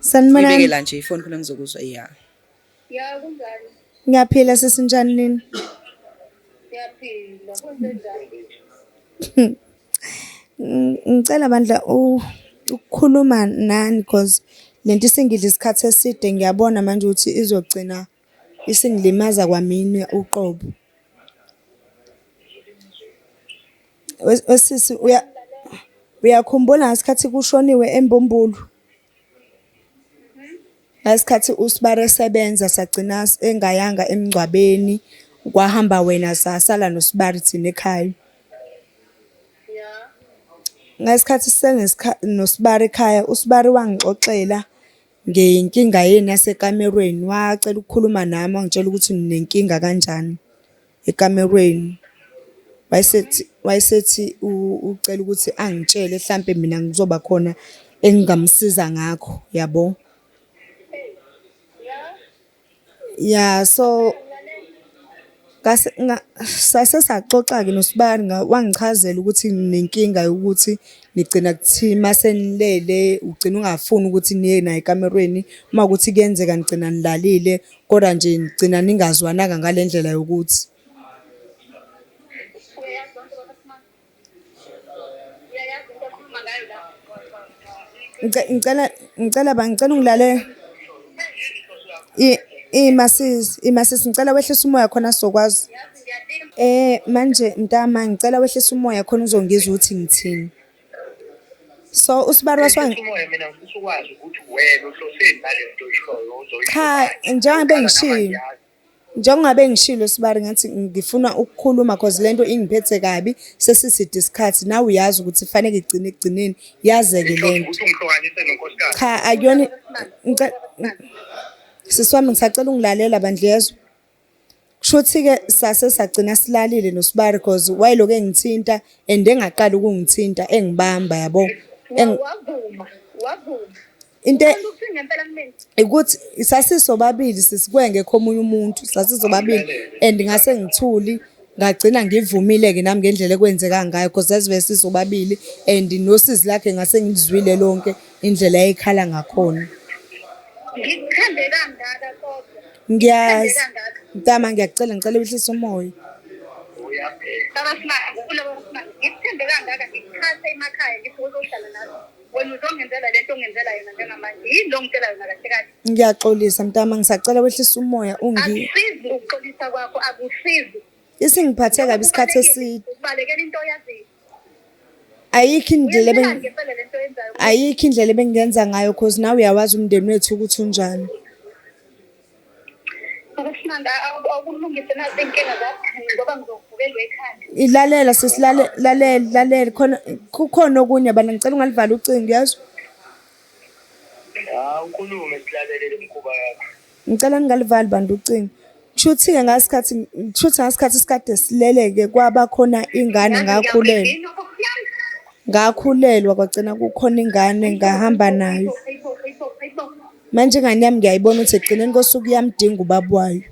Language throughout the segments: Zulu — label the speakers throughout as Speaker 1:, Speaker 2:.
Speaker 1: Sanibonani. Ngibekela nje ifoni khona
Speaker 2: ngizokuzwa ya. Ya
Speaker 3: kunjani? Ngiyaphila
Speaker 1: sesinjani nini?
Speaker 3: Ngiyaphila.
Speaker 1: Kwenzenjani? Ngicela bandla ukukhuluma nani because lento isingidla isikhathi eside ngiyabona manje ukuthi izogcina Isingilimaza kwamina uqobo. Wesisi uyakhumbula ngesikhathi kushoniwe embumbulu? Ngesikhathi uSbari esebenza sagcina engayanga emngcwabeni, kwahamba wena sasala noSbari thina ekhaya. Ngesikhathi noSbari ekhaya, uSbari wangixoxela. ngeyinkinga yenu yasekamerweni, wacela ukukhuluma nami wangitshela ukuthi ninenkinga kanjani ekamerweni. Wayesethi wayesethi ucela ukuthi angitshele hlampe mina kuzoba khona engingamsiza ngakho, yabo. Ya so sase saxoxa-ke nosbari wangichazela ukuthi nginenkinga yokuthi nigcina kuthiwa uma senilele ugcine ungafuni ukuthi niye naye ekamerweni. Uma kuwukuthi kuyenzeka nigcina nilalile kodwa nje nigcina ningazwananga ngale ndlela yokuthi. ngicela ngicela ba ngicela ungilale imasis imasis ngicela wehlisa umoya khona sizokwazi eh manje mntama ngicela wehlisa umoya khona uzongizwa ukuthi ngithini so usibalwa swa umoya mina ngifisa
Speaker 3: ukwazi ukuthi wena uhloseni nalento ishoyo uzoyisho cha njengoba ngishilo
Speaker 1: Njengoba bengishilo sibari ngathi ngifuna ukukhuluma cause lento ingiphethe kabi sesiside isikhathi nawe uyazi ukuthi faneke igcine ekugcineni yazeke lento.
Speaker 3: Cha akuyona
Speaker 1: sisi wami ngisacela ungilalela bandla yezwa. Kushuthi ke sase sagcina silalile nosibari cause wayeloku engithinta and engaqali ukungithinta engibamba yabo. Wavuma wavuma. into e-
Speaker 3: ukuthi
Speaker 1: sasisobabili sisikwenge khomunye umuntu sasisobabili and ngase ngithuli ngagcina ngivumile-ke nami ngendlela ekwenzeka ngayo because sazibe sisobabili and nosizi lakhe ngase ngilizwile lonke indlela eyikhala ngakhona
Speaker 3: ngikuthande kangaka kodwa ngiyazi
Speaker 1: ntama ngiyakucela ngicela uhlisa umoya baba simanga
Speaker 3: kulobo simanga ngikuthande kangaka ngikuchase emakhaya ngithi uzohlala nazo wena uzongenzela lento ongenzela yona njengamanje yini lo ngitshela yona kahle kahle ngiyaxolisa mntama
Speaker 1: ngisacela wehlisa umoya ungi akusizi
Speaker 3: ukuxolisa kwakho akusizi isingiphathe
Speaker 1: kabi isikhathi eside ubalekela into oyaziyo
Speaker 3: ayikho
Speaker 1: indlela ayikho indlela ebengenza ngayo cause nawe uyawazi umndeni wethu ukuthi unjani
Speaker 3: ilalela sesilalela
Speaker 1: lalela lalela khona kukhona okunye bana ngicela ungalivala ucingo yazi hawu
Speaker 3: ukhulume silalelele mkhuba yakho ngicela ningalivali
Speaker 1: bantu ucingo Shuthi-ke ngasikhathi shuthi ngasikhathi sikade sileleke kwaba khona ingane ngakhulelwa. Ngakhulelwa kwagcina kukhona ingane ngahamba nayo. Manje ingane yami ngiyayibona ukuthi ekugcineni kosuku iyamdinga ubaba wayo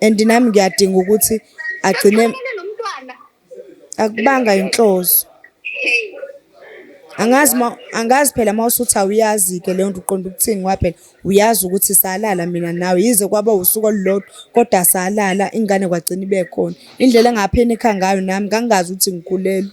Speaker 1: and nami ngiyadinga ukuthi agcine akubanga inhloso. Angazi uma angazi phela uma usuthi awuyazi-ke leyo nto uqonde ukuthini ngoba phela uyazi ukuthi salala mina nawe yize kwaba usuku olulodwa kodwa salala ingane kwagcina ibe khona. Indlela engapheni ekha ngayo nami ngangingazi ukuthi ngikhulelwe.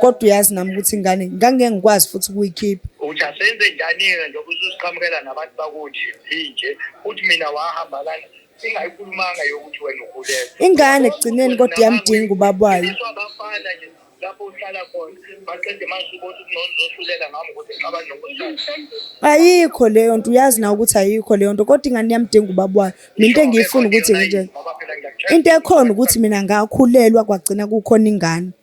Speaker 1: kodwa uyazi nami ukuthi ingane ngangeke ngikwazi futhi ukuyikhipha uthi asenze
Speaker 3: njani-ke njengoba ususiqhamukela nabantu bakuthi inje uthi mina wahamba kana singayikhulumanga yokuthi wena ukhulelwe ingane ekugcineni
Speaker 1: kodwa iyamdinga ubaba wayo abafana nje
Speaker 3: lapho uhlala khona maqede masubona ukuthi nozosulela ngami ukuthi ngaba nokuhlala ayikho
Speaker 1: leyo nto uyazi na ukuthi ayikho leyo nto kodwa ingane yamdinga ubaba wayo mina into engiyifuna ukuthi nje into ekhona ukuthi mina ngakhulelwa kwagcina kukhona ingane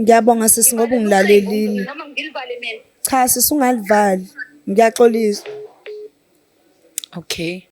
Speaker 3: Ngiyabonga
Speaker 1: sisi ngoba ungilalelile.
Speaker 3: Cha sisi
Speaker 1: ungalivali. Ngiyaxolisa. Okay.